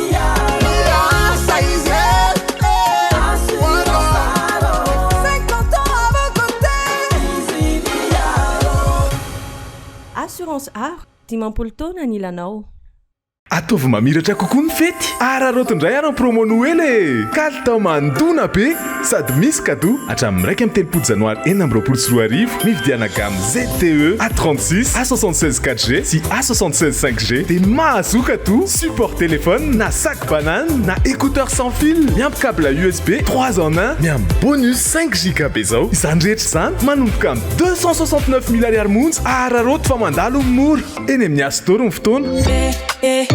Assurance Aro, dimampolo taona ny ilanao. Ataovy mamiratra kokoa ny fety! Araraoty indray ary ny promo Noely e! Kalitao mandona be! Sady misy cadeau! Hatramin'ny iraika amby telopolo Janoary enina amby roapolo sy roa arivo, mividiana gamme ZTE A36, A76 4G sy A76 5G dia mahazo cadeau support téléphone na sac banane na écouteur sans fil miampy câble USB trois en un ny amin'ny bonus cinq giga be zao. Izany rehetra izany manomboka amin'ny deux cent soixante neuf mille ariary monja araraoty fa mandalo ny mora eny amin'ny Astor ny fotoana. ZTE.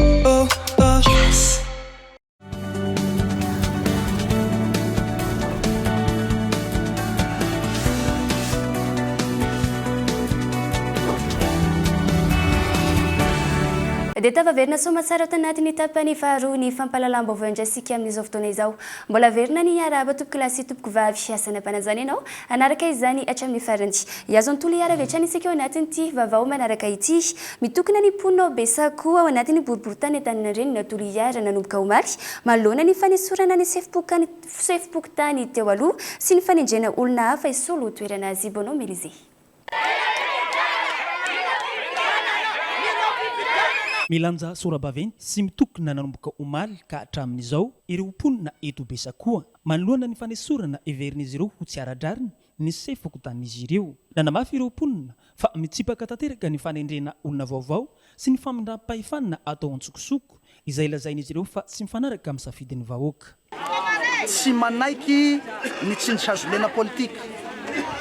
Dia tafaverina soamatsara ao tanatin'ny tapany faharoa ny fampahalalam-baovao andraisika amin'izao fotoana izao. Mbola averina ny hiarahaba tompokolahy sy tompokovavy. Asana-panajana ianao Hanaraka izany hatramin'ny farany. Hihazo ny Toliara avy hatrany isika ao anatin'ity vaovao manaraka ity. Mitokona ny mponina ao Besako, ao anatin'ny boriborintany Antaninarenina, Toliara, nanomboka omaly, manoloana ny fanesorana ny sefom-pokontany teo aloha sy ny fanendrena olona hafa hisolo ho toerana azy. Bono Mélizé. Milanja sora-baventy sy mitokona nanomboka omaly ka hatramin'izao ireo mponina eto Besakoa. Manoloana ny fanesorana heverin'izy ireo ho tsy ara-drariny ny sefo fokontanin'izy ireo, nanamafy ireo mponina fa mitsipaka tanteraka ny fanendrena olona vaovao sy ny famindram-pahefana atao an-tsokosoko, izay lazain'izy ireo fa tsy mifanaraka amin'ny safidin'ny vahoaka. Tsy manaiky ny tsindry hazolena politika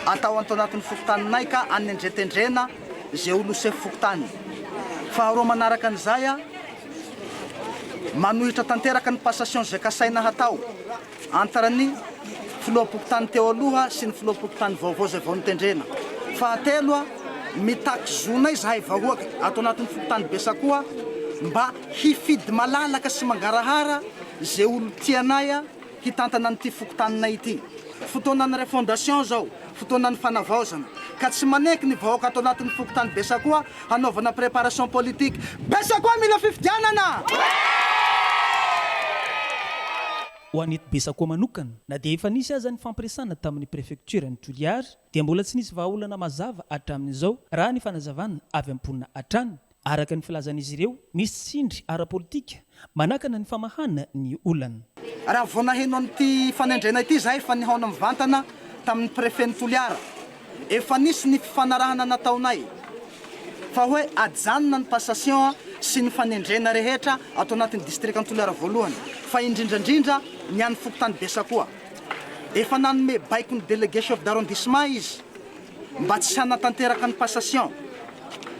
atao ato anatin'ny fokontaninay ka anendretendrena izay olona ho sefo fokontany. Faharoa manaraka an'izay, Manohitra tanteraka ny passation izay kasaina hatao antr ny filoham-pokontany teo aloha sy ny filoham-pokontany vaovao izay vao notendrena. Fahatelo, mitaky zonay izahay vahoaka ato anatin'ny fokontany Besakoa mba hifidy malalaka sy mangarahara izay olon-tianay, hitantana an'ity fokontaninay ity. Fotoanan'ny refondation izao, fotoanan'ny fanavaozana, ka tsy maneky ny vahoaka ato anatin'ny fokontany Besakoa hanaovana préparation politique. Besakoa mila fifidianana! Ho an'ny eto Besakoa manokana, na dia efa nisy aza ny fampiresana tamin'ny prefektioran'i Toliary, dia mbola tsy nisy vahaolana mazava hatramin'izao, raha ny fanazavana avy am-ponina hatrany. Araka ny filazan'izy ireo, misy tsindry ara-politika manakana ny famahana ny olana. Raha vao naheno an'ity fanendrena ity izahay efa nihaona mivantana tamin'ny Prefen'i Toliara. Efa nisy ny fifanarahana nataonay fa hoe ajanona ny passation sy ny fanendrena rehetra ato anatin'ny distrikan'i Toliara voalohany fa indrindra indrindra ny an'ny fokontany Besakoa. Efa nanome baiko ny Délégué Chef d'Arrondissement izy. mba tsy hanatanteraka ny passation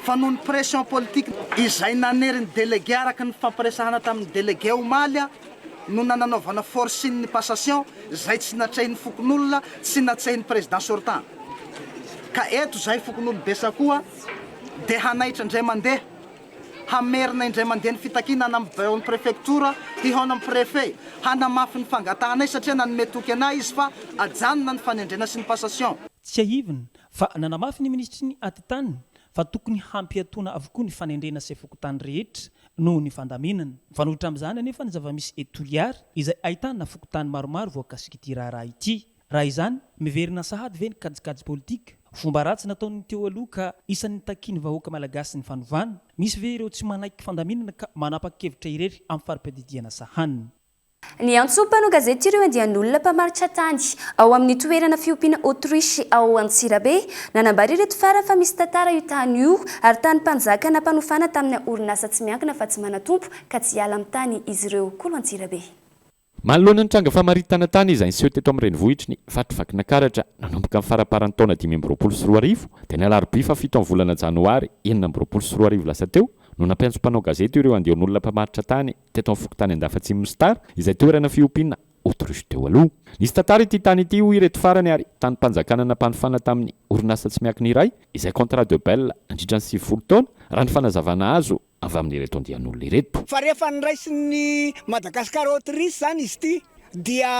fa noho ny pression politique izay nanery ny délégué araka ny nifampiresahana tamin' ny délégué omaly no nananaovana forcing ny passation izay tsy natrehin' ny fokonolona tsy natsehin' ny président sortant ka eto izahay fokonolobe sakoa dia hanaitra indray mandeha Hamerina indray mandeha ny fitakiana any amin'ny Biraon'ny Prefektiora hihaona amin'ny Prefe hanamafy ny fangatahanay satria nanome toky anay izy fa ajanona ny fanendrena sy ny passation. Tsiahivina fa nanamafy ny Minisitry ny Atitany fa tokony hampiatoana avokoa ny fanendrena sy fokontany rehetra noho ny fandaminana. Mifanohitra amin'izany anefa ny zava-misy eto Toliara izay ahitana fokontany maromaro voakasik'ity raharaha ity. Raha izany, miverina sahady ve ny kajikajy politika? Fomba ratsy nataon'ny teo aloha ka isan'ny nitakian'ny vahoaka malagasy ny fanovana? Misy ve ireo tsy manaiky fandaminana ka manapa-kevitra irery amin'ny fari-piadidiana sahaniny? Niantso mpanao gazety ireo andian'olona mpamaritra tany ao amin'ny toerana fiompiana autruche ao Antsirabe. Nanambara ireto farany fa misy tantara io tany io ary tany mpanjaka nampanofana tamina orinasa tsy miankina fa tsy manan-tompo ka tsy hiala amin'ny tany izy ireo. Kolo Antsirabe. Manoloana ny tranga famaritana tany izay niseho teto amin'ny renivohitry ny Faritra Vakinankaratra nanomboka ny faramparan'ny taona dimy amby roapolo sy roa arivo dia ny alarobia fahafito amin'ny volana janoary enina amby roapolo sy roa arivo lasa teo no nampiantso mpanao gazety ireo andian'olona mpamaritra tany teto amin'ny fokontany Andafatsimon'i Star izay toerana fiompiana autruche teo aloha. Nisy tantara ity tany ity hoy ireto farany ary tanim-panjakana nampanofana tamin'ny orinasa tsy miankina iray izay contrat de bail nandritra ny sivifolo taona raha ny fanazavana azo avy amin'ireto andian'olona ireto. Fa rehefa noraisin'ny Madagascar Autrice izany izy ity dia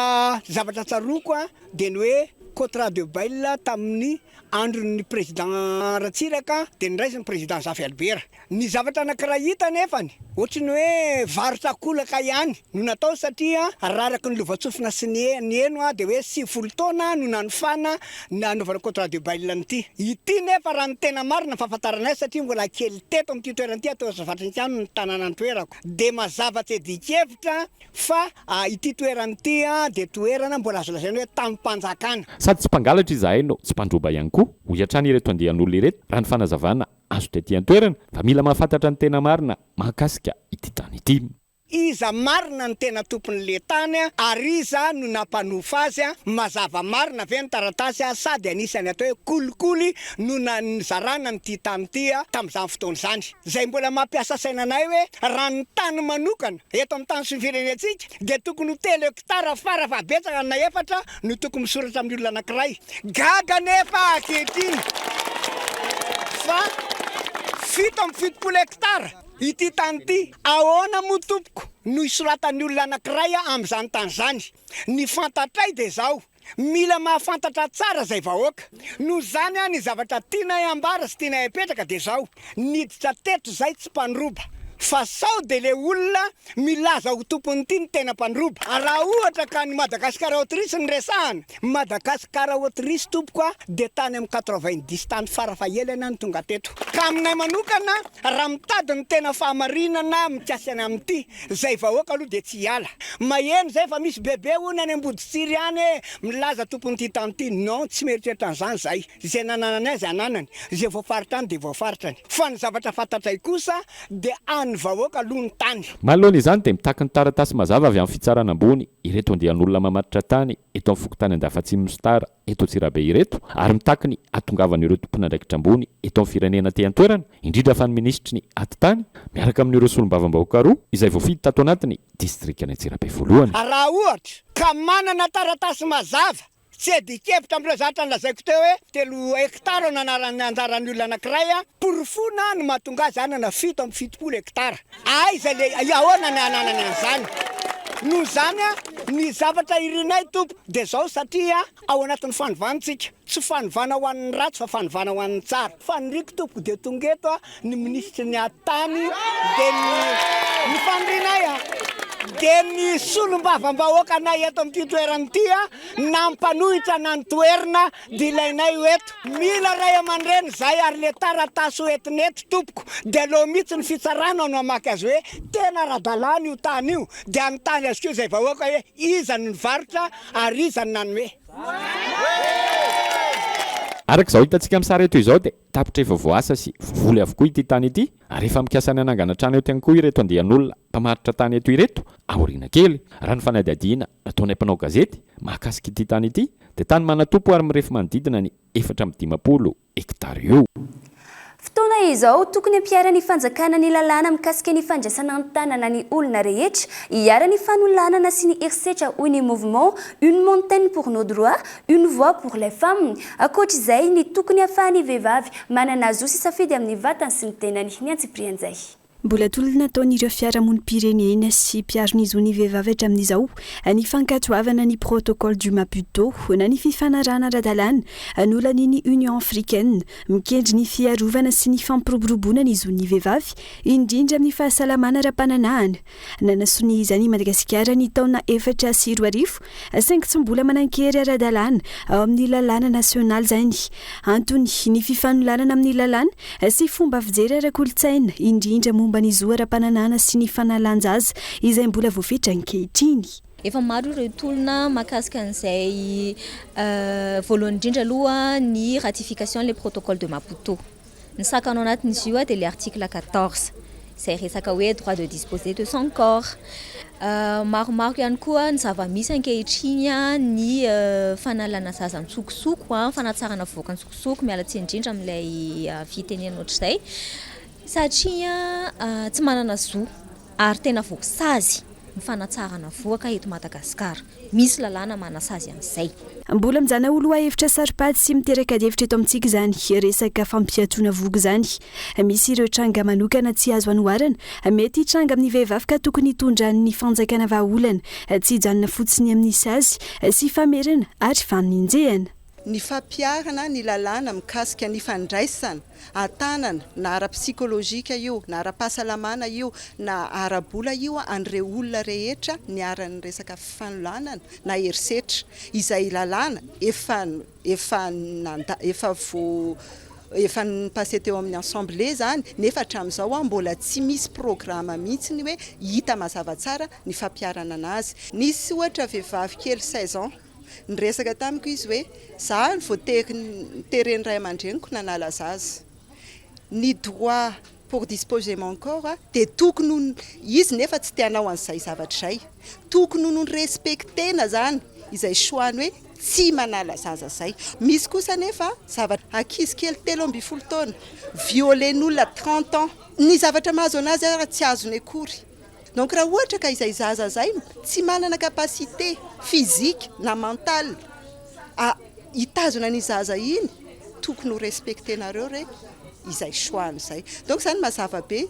zavatra tsaroako dia ny hoe Contrat de bail tamin'ny andron'ny Président Ratsiraka dia noraisin'ny Président Zafy Albert. Ny zavatra anankiray hita anefany ohatry ny hoe varotra akolaka ihany. no natao satria araraky ny lovantsofina sy ny ny heno dia hoe sivifolo taona no nanofana ny hanaovana contrat de bail an'ity. Ity nefa raha ny tena marina ny fahafantaranay satria mbola kely teto amin'ity toerana ity ato Azavatrikano ny tanàna nitoerako dia mazava tsy adikevitra fa ity toerana ity dia toerana mbola azo lazaina hoe tamim-panjakana. Sady tsy mpangalatra izahay no tsy mpandroba ihany koa, hoy hatrany ireto andian'olona ireto raha ny fanazavana azo tety an-toerana fa mila mahafantatra ny tena marina mahakasika ity trano ity. Iza marina no tena tompon le tany ary iza no nampanofa azy? Mazava marina ve ny taratasy sa dia nisy ny atao hoe kolikoly no nizarana an ity tany ity tamin'izany fotoana izany? Izay mbola mampiasa saina anay hoe raha ny tany manokana eto amin'ny tany sy ny firenentsika dia tokony ho telo hekitara fara fahabetsaka na efatra no tokony misoratra amin'ny olona anankiray. Gaga anefa ankehitriny fa fito amby fitopolo hekitara! Ity tany ity, ahoana moa tompoko no hisoratan'ny olona anankiray amin'izany tany izany? Ny fantatray dia izao, mila mahafantatra tsara izay vahoaka. Noho izany aho ny zavatra tianay hambara sy tianay hapetraka dia izao, niditra teto izay tsy mpandroba fa sao dia ilay olona milaza ho tompony ity ny tena mpandroba. Raha ohatra ka ny Madagascar Autriche no resahana, Madagascar Autriche tompoko a dia tany amin'ny quatre-vingt-dix tany fara fahelany aho no tonga teto. Ka aminay manokana raha mitady ny tena fahamarinana mikasika ny amin'ity zay vahoaka aloha dia tsy hiala. Maheno izay fa misy bebe hono any Amboditsiry any e milaza tompon'ity tany ity. Non, tsy mieritreritra an'izany izahay. Izay nananany azy ananany, izay voafaritrany dia voafaritrany, fa ny zavatra fantatray kosa dia an'ny vahoaka aloha ny tany. Manoloana izany dia mitaky ny taratasy mazava avy amin'ny fitsarana ambony ireto andian'olona mamatotra tany eto amin'ny fokontany Andafatsimo Mositara eto Antsirabe ireto ary mitaky ny hatongavan'ireo tompon'andraikitra ambony eto amin'ny firenena aty an-toerana indrindra fa ny minisitry ny atitany miaraka amin'ireo solombavambahoaka roa izay voafidy tato anatin'ny distrikan'i Antsirabe voalohany. Raha ohatra ka manana taratasy mazava Tsy adikevitra amin'ireo zavatra nolazaiko teo hoe telo hekitara no anaran'ny anjaran'ny olona anankiray, porofoina no mahatonga azy hanana fito amby fitopolo hekitara. Aiza le, ahoana ny hananany an'izany? Noho izany, ny zavatra irinay, Tompo, dia izao, satria ao anatin'ny fanovana isika, tsy fanovana ho an'ny ratsy fa fanovana ho an'ny tsara. Faniriko tompoko dia tonga eto a ny minisitry ny atany dia ny ny fanirinay a dia ny solombavambahoakanay eto amin'ity toerana ity a nampanohitra na ny toerna dia ilainay ho eto mila ray aman-dreny zay ary le taratasy ho entina eto tompoko dia aleo mihitsy ny fitsarana no hamaky azy hoe tena ara-dalàna io tany io dia anontany azy koa izay vahoaka hoe iza no nivarotra ary iza no nanome Araka izao hitantsika amin'ny sary eto izao dia tapitra efa voaasa sy voavoly avokoa ity tany ity ary efa mikasa ny hanangana trano eo ihany koa ireto andian'olona mpamaritra tany eto ireto aoriana kely. Raha ny fanadihadiana nataonay mpanao gazety mahakasika ity tany ity dia tany manatompo ary mirefy manodidina ny efatra amby dimampolo hektara eo. Fotoana izao, tokony hampiharan'ny fanjakana ny lalàna mikasika ny fandraisana an-tanana ny olona rehetra, iharan'ny fanolanana sy ny herisetra hoy ny Mouvement Une montaine pour nos droits, une voix pour les femmes. Ankoatra izay, ny tokony hahafahan'ny vehivavy manana zo sy safidy amin'ny vatany sy ny tenany ny antsipirianjay. Mbola tolona ataon'ireo fiarahamonim-pirenena sy mpiaro ny zon'ny vehivavy hatramin'izao ny fankatoavana ny Protocole du Maputo na ny fifanarahana ara-dalàna nolanin'ny Union africaine mikendry ny fiarovana sy ny fampiroboroboana ny zon'ny vehivavy indrindra amin'ny fahasalamana ara-pananahana. Nanasonia izany i Madagasikara ny taona efatra sy roa arivo Saingy tsy mbola manan-kery ara-dalàna ao amin'ny lalàna nasionaly izany. Antony, ny fifanolanana amin'ny lalàna sy fomba fijery ara-kolontsaina, indrindra momba ny zo ara-pananana sy ny fanalan-jaza, izay mbola voafetra ankehitriny. Efa maro ireo tolona mahakasika an'izay. Voalohany indrindra aloha ny ratification an'ilay Protocole de Maputo. Ny sakana ao anatin'izy io dia ilay article quatorze izay resaka hoe droit de disposer de son corps. Maromaro ihany koa ny zava-misy ankehitriny, ny fanalana zaza an-tsokosoko, fanatsarana vohoka an-tsokosoko, miala tsiny indrindra amin'ilay fitenenana ohatr'izay satria tsy manana zo. Ary tena voasazy ny fanatsarana vohoka eto Madagasikara. Misy lalàna manasazy an'izay. Mbola mijana ho lohahevitra saro-pady sy miteraka adihevitra eto amintsika izany resaka fampiatoana vohoka izany. Misy ireo tranga manokana tsy azo anoharana. Mety hitranga amin'ny vehivavy ka tokony hitondran'ny fanjakana vahaolana. Tsy hijanona fotsiny amin'ny sazy sy famerana ary faninjehana. Ny fampiharana ny lalàna mikasika ny fandraisana an-tanana na ara-psikolojika io na ara-pahasalamana io na ara-bola io an'ireo olona rehetra niharan'ny resaka fanolanana na herisetra izay lalàna efa efa nanda efa vo efa ni-passer teo amin'ny assemblée izany nefa hatramin'izao mbola tsy misy programa mihitsy ny hoe hita mazava tsara ny fampiharana an'azy. Nisy ohatra vehivavy kely seize ans Niresaka tamiko izy hoe, Za no voatery niteren'ny ray aman-dreniko nanala zaza. Ny droit pour disposer mon corps dia tokony ho, izy nefa tsy te hanao an'izay zavatra izay. Tokony ho no-respecter-na izany izay choix-ny hoe tsy manala zaza izay. Misy kosa anefa zavatra, ankizy kely telo ambin'ny folo taona, violer-n'olona trente ans. Ny zavatra mahazo an'azy ary tsy azony akory. Donc raha ohatra ka izay zaza izay tsy manana capacité physique na mental a hitazona an'iny zaza iny tokony ho respectenareo re izay choix-ny izay. Donc izany mazava be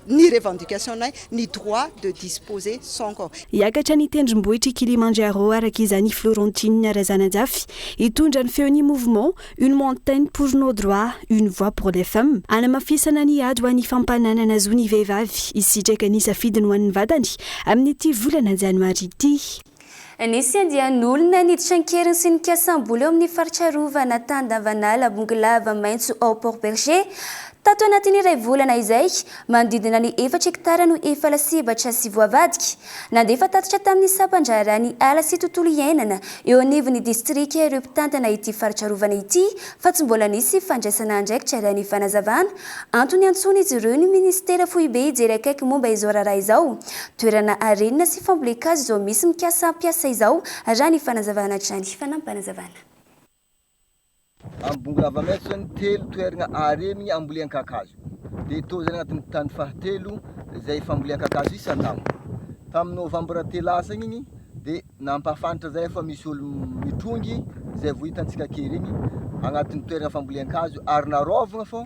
ny revendication-nay, ny droit de disposer son corps. Hiakatra ny tendrombohitr'i Kilimandjaro araka izany i Florentine Razanajafy, hitondra ny feon'ny mouvement, Une montaine pour nos droits, une voix pour les femmes, Hanamafisana ny ady ho an'ny fampananana zo ny vehivavy hisitraka ny safidiny ho an'ny vatany amin'ity volana janoary ity. Nisy andian'olona niditra an-keriny sy nikasam-bola eo amin'ny faritra arovana Tandavanala Bongolava maitso ao Port Bergé. Tato anatin'ny iray volana izay, manodidina ny efatra hektara no efa lasibatra sy voavadika. Nandefa tatitra tamin'ny sampan-draharaha ny ala sy tontolo iainana eo anivon'ny distrika ireo mpitantana ity faritra arovana ity fa tsy mbola nisy fandraisana andraikitra raha ny fanazavana. Antony iantsoan'izy ireo ny minisitera foibe hijery akaiky momba izao raharaha izao. Toerana harenina sy fambolen-kazo izao misy mikasa hampiasa izao raha ny fanazavana hatrany. Fanampin'panazavana. Ambongorava Mason, telo toeragna aremigny ambolean-kakazo. Dia tô zany agnatin'ny tany fahatelo zay fambolean-kakazo isan-taogno. Tamin'ny novambra teo lasa igny igny dia nampahafantatra zay fa misy olo mitrongy zay vao hitantsika kely igny agnatin'ny toeragna fambolean-kazo ary naraovagna fô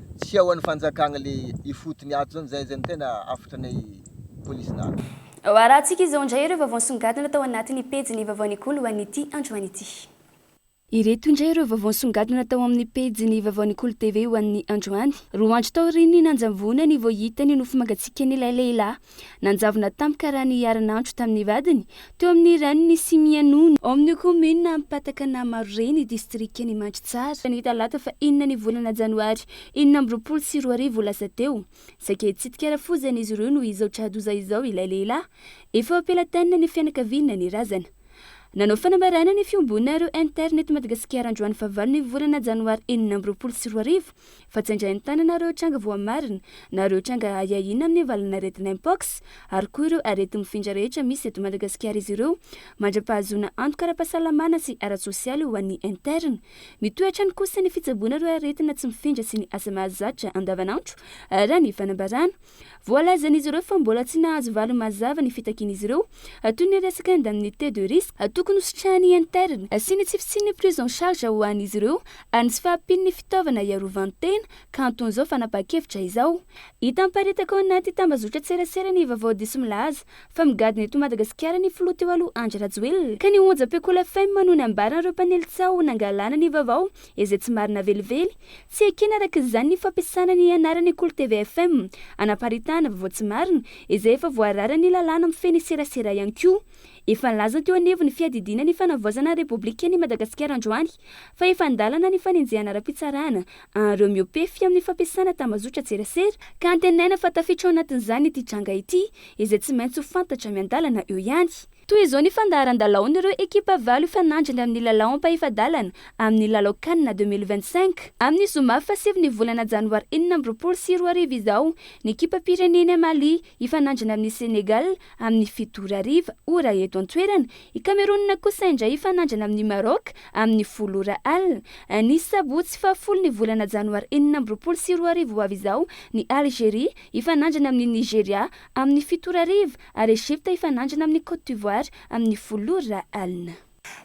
Tsy ao any fanjakana le ifotony ato zany zay zany tena hafatra anay police na ato. Ho arahantsika izao indray ireo vaovao nisongadina tao anatin'ny pejin'ny vaovaon'ny golo ho an'ity androany ity. Ireto indray ireo vaovao nisongadina tao amin'ny pejin'ny vaovaon'ny golo TV ho an'ny androany. Roa andro taorian'ny nanjavonany vao hita ny nofo mangatsiakan'ilay lehilahy. Nanjavona tampoka raha niharan'andro tamin'ny vadiny teo amin'ny rain'ny Simien Nono, ao amin'ny kaominina Ampatakanamarore, ny distrikan'Imandry Tsara, ny talata fahenina ny volana janoary enina amby roapolo sy roa arivo lasa teo. Saika hitsidika rafozana izy ireo no izao tra-doza izao ilay lehilahy. Efa ampelatanana ny fianakaviana ny razana. Nanao fanambarana ny Fiombonana Reo Inter Net Madagasikara androany fahavalon'ny volana janoary enina amby roapolo sy roa arivo fa tsy andray an-tanana ireo tranga voamarina na ireo tranga ahiahiana amin'ny valanaretina Mpox ary koa ireo areti-mifindra rehetra misy eto Madagasikara izy ireo mandra-pahazoana antoka ara-pahasalamana sy ara-tsosialy ho an'ny Inter. Mitohy hatrany kosa ny fitsaboana ireo aretina tsy mifindra sy ny asa mahazatra andavanandro raha ny fanambarana Voalazan'izy ireo fa mbola tsy nahazo valiny mazava ny fitakian'izy ireo, toy ny resaka indemnité de risque tokony hositrahan'ny interne sy ny tsy fisian'ny prise en charge ho an'izy ireo ary ny tsy fahampian'ny fitaovana hiarovan-tena ka anton'izao fanapahan-kevitra izao. Hita miparitaka ao anaty tambazotran-tserasera ny vaovao diso milaza fa migadona eto Madagasikara ny filoha teo aloha Andry Rajoelina ka ny onjam-peko la femme no nambaran'ireo mpanely tsaho nangalana ny vaovao izay tsy marina velively, tsy ekena araka izany ny fampiasana ny anaran'ny Kolo tvfm hanaparitahana vaovao tsy marina izay efa voararan'ny lalàna mifehy ny serasera ihany koa. Efa nilaza teo anivon'ny fiadidiana ny fanavaozana ny Repoblikan'i Madagasikara androany fa efa an-dalana ny fanenjehana ara-pitsarana an'ireo miopefy amin'ny fampiasana tambazotran-tserasera ka antenaina fa tafiditra ao anatin'izany ity tranga ity izay tsy maintsy ho fantatra miandalana eo ihany. Toy izao ny fandaharan-dalaon'ireo ekipa valo hifanandrina amin'ny lalao ampahefa-dalana amin'ny lalao Can deux mille vingt cinq. Amin'ny zoma fahasivy ny volana janoary enina amby roapolo sy roa arivo izao ny ekipam-pirenena Mali hifanandrina amin'ny Senegal amin'ny fito ora hariva, ora eto an-toerana, i Kamerona kosa indray hifanandrina amin'i Maroc amin'ny folo ora alina. Ny sabotsy fahafolo ny volana janoary enina amby roapolo sy roa arivo ho avy izao ny Algeria hifanandrina amin'i Nigeria amin'ny fito ora hariva, ary Egypta hifanandrina amin'i Côte d'Ivoire amin'ny folo ora alina.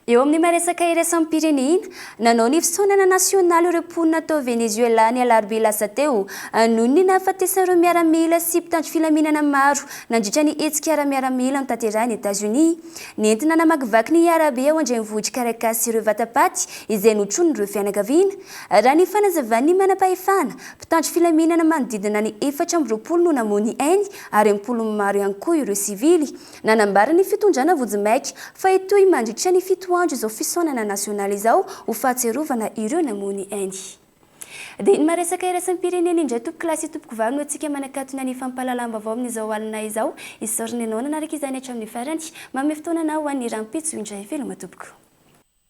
Eo amin'ny maha-resaka iraisam-pirenena, nanao ny fisaonana nasionaly ireo mponina tao Venezuela ny alarobia lasa teo, noho ny nahafatesan'ireo miaramila sy mpitandro filaminana maro nandritra ny hetsika ara-miaramila notanterahin'i Etazonia nentina namakivaky ny arabe ao an-drenivohitr'i Caracas ireo vatapaty izay notronin'ireo fianakaviana. Raha ny fanazavan'ny manampahefana, mpitandro filaminana manodidina ny efatra amby roapolo no namoy ny ainy ary am-polony maro ihany koa ireo sivily. Nanambara ny fitondrana vojimaika fa hitohy mandritra ny fito andro izao fisaonana nasionaly izao ho fahatsiarovana ireo namono ainy. Dia ny maha-resaka iraisam-pirenena indray tompoko lahy sy tompoko vavy no antsika manakatona ny fampahalalam-baovao amin'izao alina izao. Isaorana ianao nanaraka izany hatramin'ny farany. Manome fotoana anao ho an'ny rahampitso indray veloma tompoko.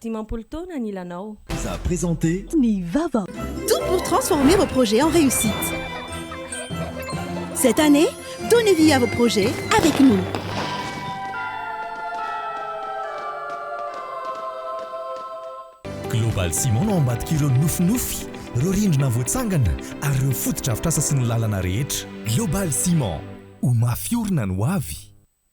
Dimampolo taona ny lanao. Vous a présenté. Ny vava. Tout pour transformer vos projets en réussite. Cette année, donnez vie à vos projets avec nous. Global Ciment no ambadika ireo nofinofy, ireo rindrina voatsangana ary ireo fotodrafitrasa sy ny lalana rehetra. Global Ciment, ho mafy orina ny hoavy.